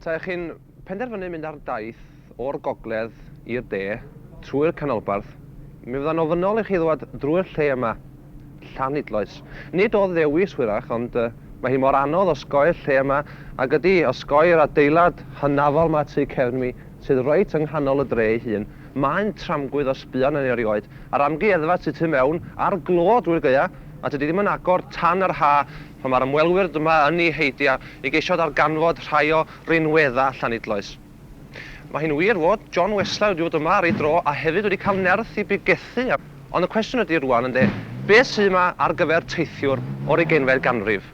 Taech chi'n penderfynu mynd ar daith o'r gogledd i'r de trwy'r canolbarth, mi fydda'n ofynnol i chi ddod drwy'r lle yma, Llanidloes. Nid o ddewis hwyrach, ond uh, mae hi mor anodd osgoi'r lle yma, ac ydy, osgoi'r adeilad hynafol ma tu cefn mi, sydd reit yng nghanol y dre ei hun. Mae'n tramgwydd o sbïo arnyn ni erioed. A'r amgueddfa tu tu mewn, a'r glo drwy'r gaea, a tydi ddim yn agor tan yr ha, Ond mae'r ymwelwyr dyma yn eu heidio i geisio darganfod rhai o rinweddau Llanidloes. Mae hi'n wir fod John Weslau wedi bod yma ar ei dro a hefyd wedi cael nerth i bigethu, ond y cwestiwn ydy rŵan, ynde, beth sydd yma ar gyfer teithiwr o'r ugeinfed ganrif?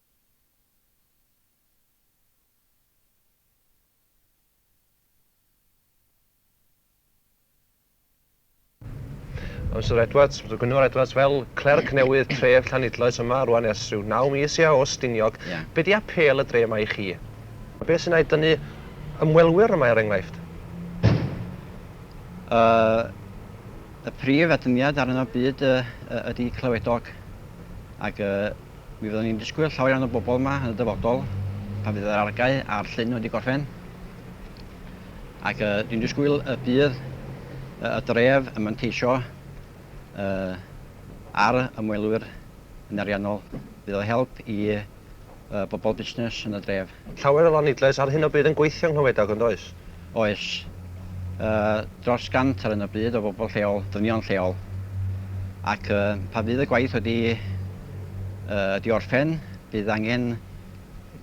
Ond Syr Edwards, Syr Gwynfor Edwards, fel clerc newydd tref Llanidloes yma rwan ers rhyw naw mis ia o Stiniog, be di apêl y dre yma i chi? A be sy'n a'i dynnu ymwelwyr yma er enghraifft? Yy y prif atyniad arno byd yy ydi clywedog ag yy Mi fyddwn ni'n disgwyl llawer iawn o bobl yma yn y dyfodol pan fydd yr argae a'r llyn wedi gorffen ac uh, dwi'n disgwyl y bydd uh, y dref yn manteisio uh, ar ymwelwyr yn ariannol. Bydd o help i uh, bobl busnes yn y dref. Llawer o lanidlais ar hyn o bryd yn gweithio yng Nghlywedog, yn does? Oes. Yy, dros 100 ar hyn o bryd o bobl lleol, dynion lleol. Ac yy, pan fydd y gwaith wedi yy, wedi orffen, bydd angen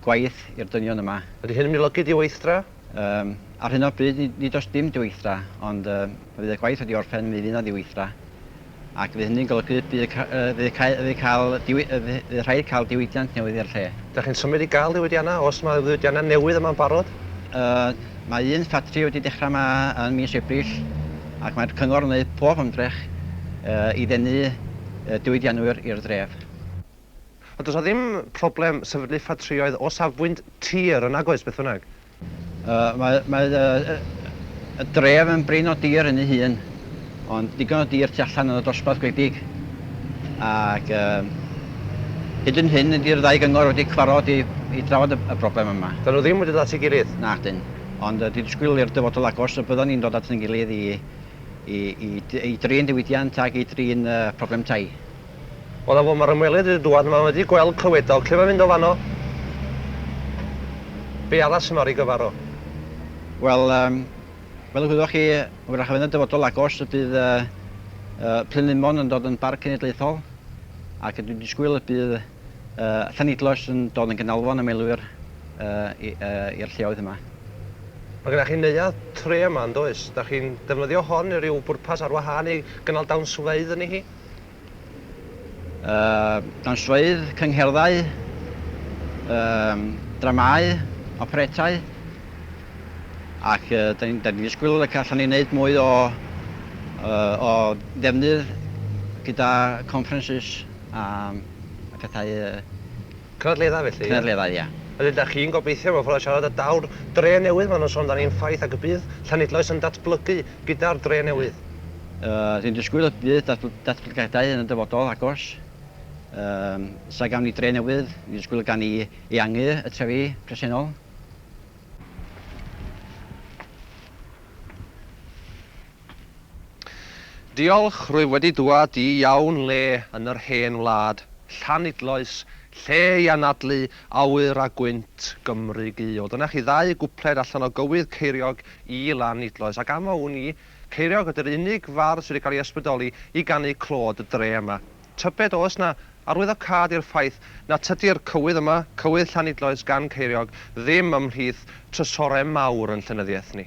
gwaith i'r dynion yma. Ydy hyn yn mynylogi diweithdra? Yym, ar hyn o bryd, nid, nid oes dim diweithdra, ond yy, pan fydd y gwaith wedi orffen, mi fydd 'na ddiweithdra. Ac fydd hynny'n golygu y bydd rhaid cael diwydiant newydd i'r lle. Dach chi'n symud i gael diwydiannau, os mae diwydiannau newydd yma'n barod? Mae un ffatri wedi dechrau yma yn mis Ebrill ac mae'r cyngor yn gwneud pob ymdrech i ddenu diwydiannwyr i'r dref. Ond does 'na ddim problem sefydlu ffatrïoedd o safbwynt tir yn nag oes, beth bynnag? Mae, mae y, y, y dref yn brin o dir yn ei hun, ond digon o dir tu allan yn y dosbarth gwledig. Ac um, hyd yn hyn, ydy'r ddau gyngor wedi cyfarfod i, i drafod y, y broblem yma. Dyn nhw ddim wedi dod at ei gilydd? Na, dyn. Ond uh, dwi'n disgwyl i'r dyfodol agos y byddwn ni'n dod at ein gilydd i, i, i, i drin diwydiant ac i drin uh, problem tai. O na fo, mae'r ymwelydd wedi dŵad, mae wedi gweld clywedog, lle mae'n mynd o fanno? Be arall sy'n mor i gyfar o? Wel, um, fel y gwyddoch chi, wrach yn y dyfodol agos y bydd uh, uh, Plynlimon yn dod yn barc cenedlaethol, ac dwi'n disgwyl y bydd uh, Llanidloes yn dod yn gynalfon ymwelwyr uh, i'r uh, lleoedd yma. Mae gennych chi neuadd tre yma yn does? Da chi'n defnyddio hon i ryw bwrpas ar wahân i gynnal dawnsfeydd yn ei hi? dan swydd, cyngherddau, dramâu, operetau, ac da ni'n disgwyl y gallan ni wneud mwy o ddefnydd gyda conferences a phethau Cynadleddau felly, ie? Cynadleddau, ie. Ydyn, dach chi'n gobeithio mewn ffordd o siarad y daw'r dre newydd maen nhw'n sôn amdani'n ffaith ac y bydd Llanidloes yn datblygu gyda'r dre newydd? Yy, dwi'n disgwyl y bydd datbl- datblygiadau yn y dyfodol agos. Yym, os na gawn ni dre newydd, dwi'n disgwyl y gawn ni eangu y trefi presennol. Diolch, rwyf wedi dwad i iawn le yn yr hen wlad, Llanidloes, lle i anadlu awyr a gwynt Gymru guo. Dyna chi ddau gwpled allan o gywydd Ceiriog i Lanidloes, ac am a wn i, Ceiriog ydy'r unig fardd sydd wedi cael ei ysbrydoli i ganu clod y dre yma. Tybed oes 'na arwyddocâd i'r ffaith na tydi'r cywydd yma, cywydd Llanidloes gan Ceiriog, ddim ymhlith trysorau mawr yn llenyddiaeth ni?